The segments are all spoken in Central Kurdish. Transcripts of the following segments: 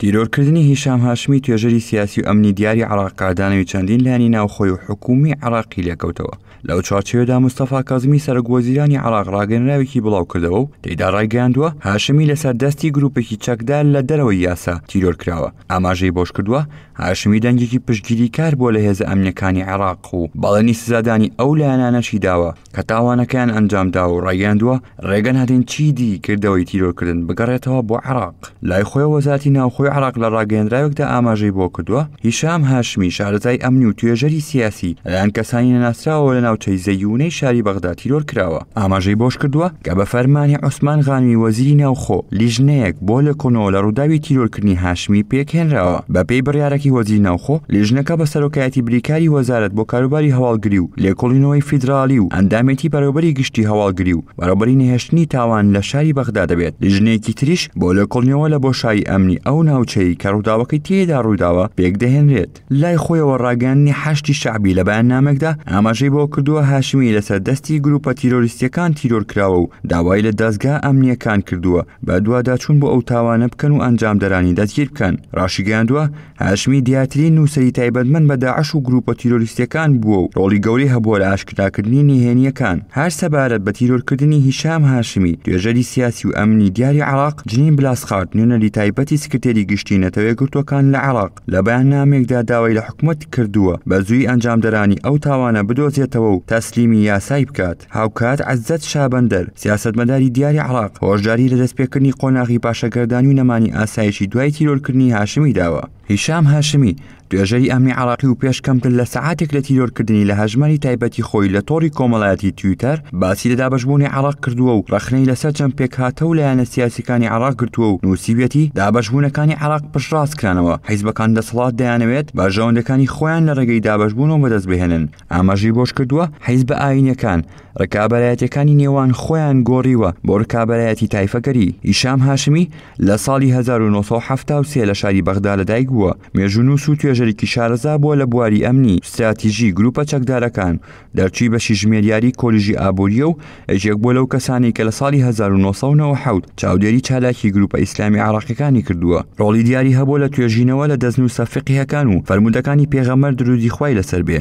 تیرۆرکردنی هیشام هاشمی توێژەری سیاسی و ئەمنی دیاری عراق قادانەوی چەندین لانی ناوخۆی و حکومی عراقی لێکەوتەوە لەو چوارچێدا مستەفا کازمی سەرک وەزیرانی عراق ڕاگەنراوێکی بڵاو کردەوە و تێدا ڕایگەاندووە هاشمی لەسەر دەستی گروپێکی چەکدار لە دەرەوەی یاسا تیرۆر کراوە ئاماژەی بۆش کردووە هاشمی دەنگێکی پشتگیری کار بۆ لە هێزە ئەمنەکانی عراق و بەڵێنی سزادانی ئەو لایەنانەشی داوە کە تاوانەکەیان ئەنجامدا و ڕایگەندووە ڕێگە نادەین چیدی کردەوەی تیرۆرکردن بگەڕێتەوە بۆ عراق لای خۆی وەزاتی ناوخۆی عراق لە ڕاگەندراوێکدا ئاماژەی بۆ کردووە هیشام هاشمی شارەزای ئەمنی و توێژەری سیاسی لەلایەن کەسانی نەناسراوەوە لە ناوچەی زەیونەی شاری بەغدا تیرۆر کراوە ئاماژەی بۆش کردووە کە بە فەرمانی عوسمان غانمی وەزیری ناوخۆ لیژنەیەک بۆ لە کۆنەوە لە ڕووداوی تیرۆرکردنی هاشمی پێکهێنراوە بەپێی بڕیارەکەی وەزیری ناوخۆ لیژنەکە بە سەرۆکایەتی بریکاری وەزارەت بۆ کاروباری هەواڵگری و لێکۆڵینەوەی فیدراڵی و ئەندامێتی بەڕێوبەری گشتی هەواڵگری و بەڕێوبەری نەهێشتنی تاوان لە شاری بەغدا دەبێت لیژنەیەکی تریش بۆ لێکۆڵینەوە لە بۆشایی ئەمنی ئەو ناوچەی کە ڕووداوەکەی تێیدا ڕوویداوە پێکدەهێنرێت لای خۆیەوە ڕاگەیاندنی حەشتی شەعبی لە بەیاننامێکدا ئاماژەی بۆ کردووە هاشمی لەسەر دەستی گروپە تیرۆریستیەکان تیرۆر کراوە و داوای لە دەزگا ئەمنیەکان کردووە بە دواداچوون بۆ ئەو تاوانە بکەن و ئەنجامدەرانی دەستگیر بکەن ڕاشیگەیاندووە هاشمی دیاترین نووسری تایبەتمەند بە داعش و گروپە تیرۆریستیەکان بووە و ڕۆڵی گەوری هەبووە لە ئاشکراکردنی نهێنیەکان هەر سەبارەت بە تیرۆرکردنی هیشام هاشمی توێژەری سیاسی و ئەمنی دیاری عراق جنین بلاسخارت نوێنەری تایبەتی سکرتێری گشتی نەتەوەیەکگرتوەکان لە عراق لە بەیاننامەیەکدا داوای لە حکومەت کردووە بە زووی ئەنجامدەرانی ئەو تاوانە بدۆزێتەوە و تەسلیمی یاسای بکات هاوکات عزەت شابەندەر سیاسەتمەداری دیاری عراق هۆشداری لە دەستپێکردنی قۆناغی پاشەگەردانی و نەمانی ئاسایشی دوای تیرۆرکردنی هاشمی داوە هیشام هاشمی توێژەری ئەمنی عراقی و پێش کەمتر لە سەعاتێک لە تیرۆرکردنی لە هەژماری تایبەتی خۆی لە تۆڕی کۆمەڵایەتی تویتەر باسی لە دابەشبوونی عێڕاق کردووە و ڕەخنەی لەسەر چەند پێکهاتە و لایەنە سیاسیەکانی عێڕاق گرتووە و نووسیویەتی دابەشبوونەکانی عێڕاق پشتڕاست کرانەوە حیزبەکان دەسەڵات دەیانەوێت بەرژەوەندەکانی خۆیان لە ڕێگەی دابەشبوونەوە بەدەست بهێنن ئاماژەی بۆش کردووە حیزبە ئایینیەکان ڕکابەرایەتیەکانی نێوان خۆیان گۆڕیوە بۆ ڕکابەرایەتی تایفەگەری هیشام هاشمی لە ساڵی 1970 لە شاری بەغدا لەدایک بووە مێژوونووس و توێژەرێکی شارەزا بووە لە بواری ئەمنی ستراتیژی گروپە چەکدارەکان دەرچووی بەشی ژمێریاری کۆلیژی ئابووریە و ئەژێک بۆ لەو کەسانی کە لە ساڵی 1990 چاودێری چالاکی گروپە ئیسلامی عراقیەکانی کردووە ڕۆڵی دیاری هەبوو لە توێژینەوە لە دەستنووسە فقیهەکان و فەرمودەکانی پێغەمەر درودی خوای لەسەر بێ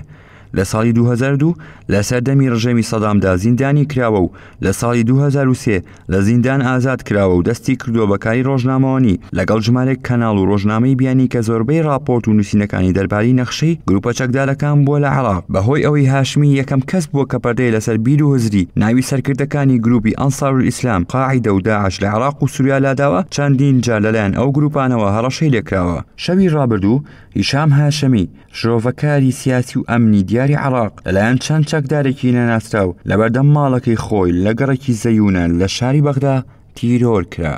لە ساڵی 2002 لە سەردەمی ڕژێمی سەدامدا زیندانی کراوە و لە ساڵی 2023 لە زیندان ئازاد کراوە و دەستی کردووە بە کاری ڕۆژنامەوانی لەگەڵ ژمارێک کەناڵ و ڕۆژنامەی بیانی کە زۆربەی ڕاپۆرت و نووسینەکانی دەرباری نەخشەی گروپە چەکدارەکان بووە لە عراق بەهۆی ئەوەی هاشمی یەکەم کەس بووە کە پەردەی لەسەر بیر و هزری ناوی سەرکردەکانی گروپی ئەنسار ئیسلام قاعدە و داعش لە عراق و سوریا لاداوە چەندین جار لەلایەن ئەو گروپانەوە هەڕەشەی لێکراوە شەوی ڕابردوو هیشام هاشمی شرۆڤەکاری سیاسی و ئەمنی دیاری عراق لەلایەن چەند چەکدارێکی نەناسراو لەبەردەم ماڵەکەی خۆی لە گەڕێکی زەیونە لە شاری بەغدا تیرۆر کرا.